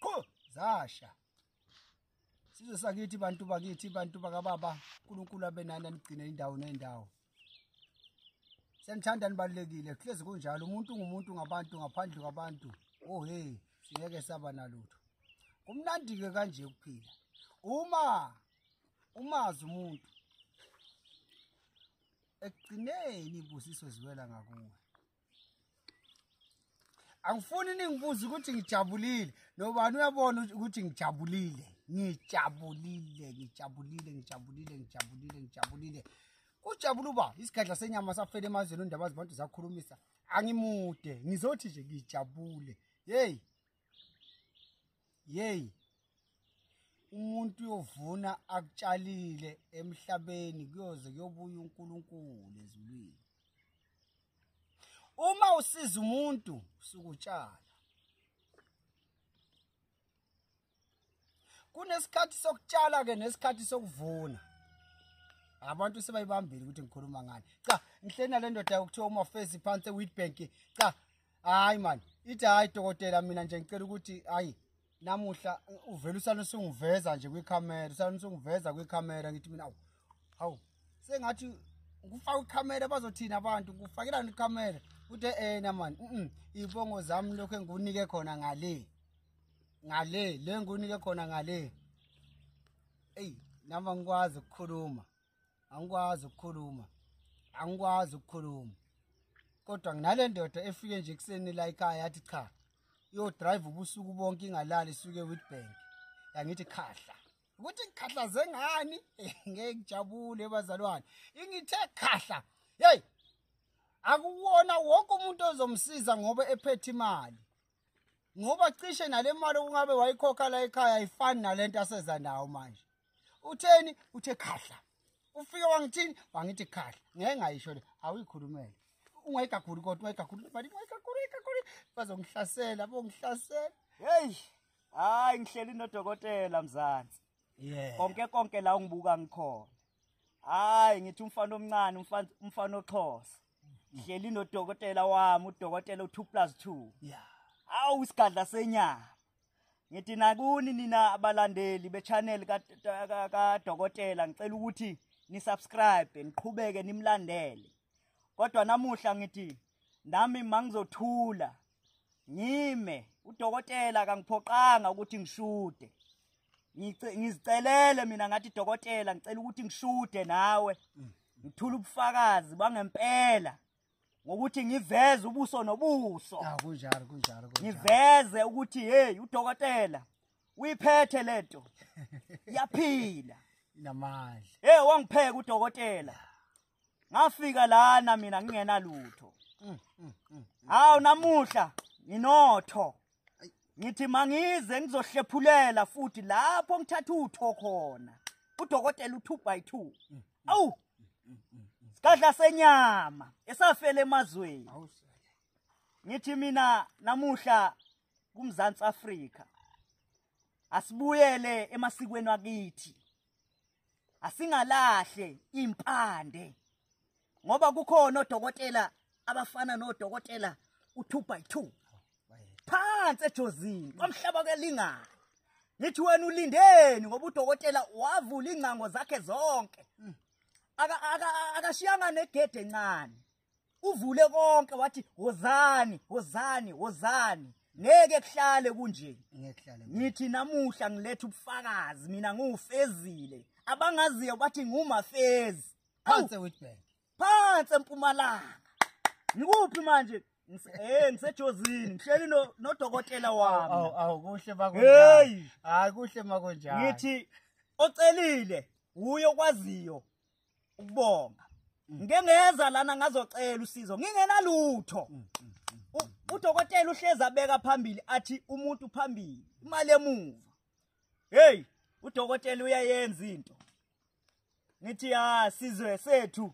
Qho zasha. Sizwe sakithi bantu bakithi bantu bakababa uNkulunkulu abenani anigcine indawo nendawo. Senithanda nibalekile hlezi kunjalo umuntu ngumuntu ngabantu ngaphandle kwabantu. Oh hey singeke saba nalutho. Kumnandi ke kanje kuphila. Uma umazi umuntu ekugcineni ibusiso ziwela ngakuwe. angifuni ningibuze ukuthi ngijabulile nobani uyabona ukuthi ngijabulile ngijabulile ngijabulile ngijabulile ngijabulile ngijabulile kujabula uba isigadla senyama safela emazweni ondaba zibantu zakhulumisa angimude ngizothi nje ngijabule yeyi Yey. Umuntu uyovuna akutshalile emhlabeni kuyoze kuyobuya uNkulunkulu ezulwini. Uma usiza umuntu sukutshala. Kunesikhathi sokutshala ke nesikhathi sokuvuna. abantu sebayibambile ukuthi ngikhuluma ngani cha ngihleli nalendoda yokuthiwa uma face phansi eWitbank cha hayi mani ithi hayi dokotela mina nje ngicela ukuthi hayi namuhla uvela usana usungiveza nje kwikhamera usana usungiveza kwikhamera ngithi mina awu hawu sengathi ngifaka ikhamera bazothina abantu ngifakelani ikhamera uthe ena eh, mani um iy'bongo zami lokhu engiwunike khona ngale ngale le engiwunike khona ngale eyi nama ngikwazi ukukhuluma angikwazi ukukhuluma angikwazi ukukhuluma kodwa nginale ndoda efike nje ekuseni la ekhaya yathi cha iyodrive ubusuku bonke ingalali isuke witbank yangithi khahla ukuthi ngikhahlaze ngani ngeke ngijabule bazalwane ingithe khahla yeyi akuwona wonke umuntu ozomsiza ngoba ephethe imali ngoba cishe nale mali okungabe wayikhokha la ekhaya ayifani nale nto aseza nawo manje utheni uthe khahla ufike wangithini wangithi khahla ngeke ngayisho le awuyikhulumele ungayigakhulu kodwa ungayigakhulu mali ungayigakhulu ungayigakhulu bazongihlasela bongihlasela heyi hayi ngihleli nodokotela mzansi yeah konke konke la ungibuka ngikhona hayi ngithi umfana omncane umfana umfana oxhosa hleli nodokotela wami udokotela u2 plus 2 yeah awu isigadla senyama ngithi nakuni nina abalandeli bechannel ka ka dokotela ngicela ukuthi ni subscribe niqhubeke nimlandele kodwa namuhla ngithi nami mangizothula ngime udokotela akangiphoqanga ukuthi ngishude ngizicelele mina ngathi dokotela ngicela ukuthi ngishude nawe ngithula ubufakazi bangempela ngokuthi ngiveze ubuso nobuso ah, kunjalo kunjalo ngiveze ukuthi hey udokotela uyiphethe lento yaphila namandla hey wangipheka udokotela ngafika lana mina ngingena lutho mm, mm, mm, hawu namuhla nginotho ngithi mangize ngizohlephulela futhi lapho ngithatha utho khona udokotela u2 by 2 awu sikadla senyama esafela emazweni ngithi mina namuhla kumzansi Afrika asibuyele emasikweni wakithi asingalahle impande ngoba kukhona odokotela abafana nodokotela u2 by 2 phansi ejozini kwamhlaba kelingana ngithi wena ulindeni ngoba udokotela wavula ingcango zakhe zonke akashiyanga negede encane uvule konke wathi wozani wozani wozani ngeke kuhlale kunje ngithi namuhla ngiletha ubufakazi mina ngiwufezile abangaziyo bathi ngumafezi phansi witbank phansi empumalanga ngikuphi manje Eh ngisejozini ngihleli no nodokotela wami. Awu awu kuhle makunjani. Hayi kuhle makunjani. Ngithi ocelile wuye okwaziyo ukubonga mm. ngike ngeza lana ngazocela usizo ngingenalutho mm, mm, udokotela uhlezi abeka phambili athi umuntu phambili imali emuva hey udokotela uyayenza into ngithi ha sizwe sethu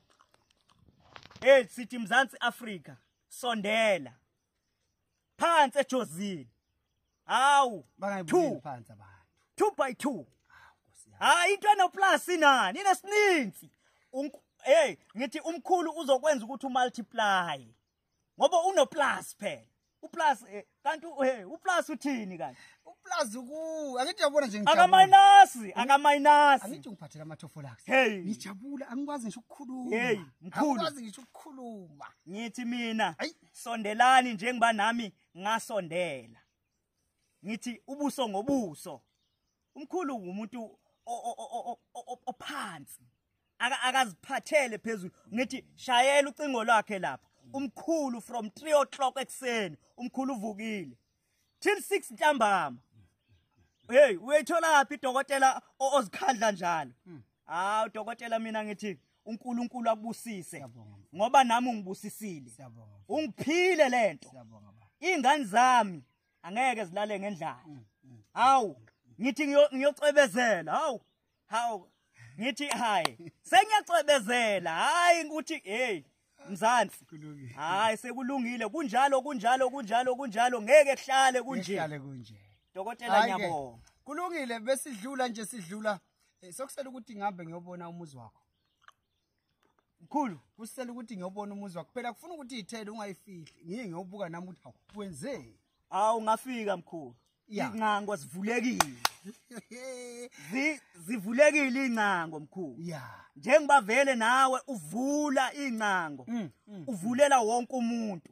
hey sithi mzansi afrika sondela phansi ejozini hawu two phansi abantu two by two hayi into enoplus inani inesininzi hey ngithi umkhulu uzokwenza ukuthi umultiply ngoba unoplus phela uplus eh, kanti hey uplus uthini kanti uplus ku angithi uyabona nje ngijabula akaminasi akaminasi angithi ungiphathela amathofo lakhe hey ngijabula angikwazi ngisho ukukhuluma hey mkhulu angikwazi ngisho ukukhuluma ngithi mina sondelani njengoba nami ngasondela ngithi ubuso ngobuso umkhulu umuntu ophansi akaziphathele phezulu ngithi shayela ucingo lwakhe lapha umkhulu from 3 o'clock ekuseni umkhulu uvukile till 6 ntambama hey uyitholaphi dokotela ozikhandla njalo hmm. hawu dokotela mina ngithi uNkulunkulu akubusise ngoba nami ungibusisile ungiphile lento ingane zami angeke zilale ngendlala hmm, hmm. hawu ngithi ngiyocwebezela hawu hawu ngithi hayi sengiyacwebezela hayi ukuthi hey mzansi hayi sekulungile kunjalo kunjalo kunjalo kunjalo ngeke kuhlale kunje kuhlale kunje dokotela ngiyabonga kulungile besidlula nje sidlula eh, sokusela ukuthi ngihambe ngiyobona umuzi wakho mkhulu kusisela ukuthi ngiyobona umuzi wakho phela kufuna ukuthi iyithele ungayifihli ngiye ngiyowubuka nami ukuthi hawu wenzeni awu ngafika mkhulu iy'ngcango zivulekile zivulekile iy'ngcango mkhulu njengoba vele nawe uvula iy'ngcango mm, mm, mm. uvulela wonke umuntu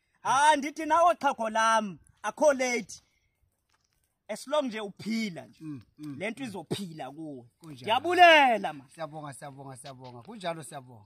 ha ndithi nawo xhago lam akho late as long nje uphila nje mm, mm, le nto mm. izophila kuwe ndiyabulela ma siyabonga siyabonga siyabonga kunjalo siyabonga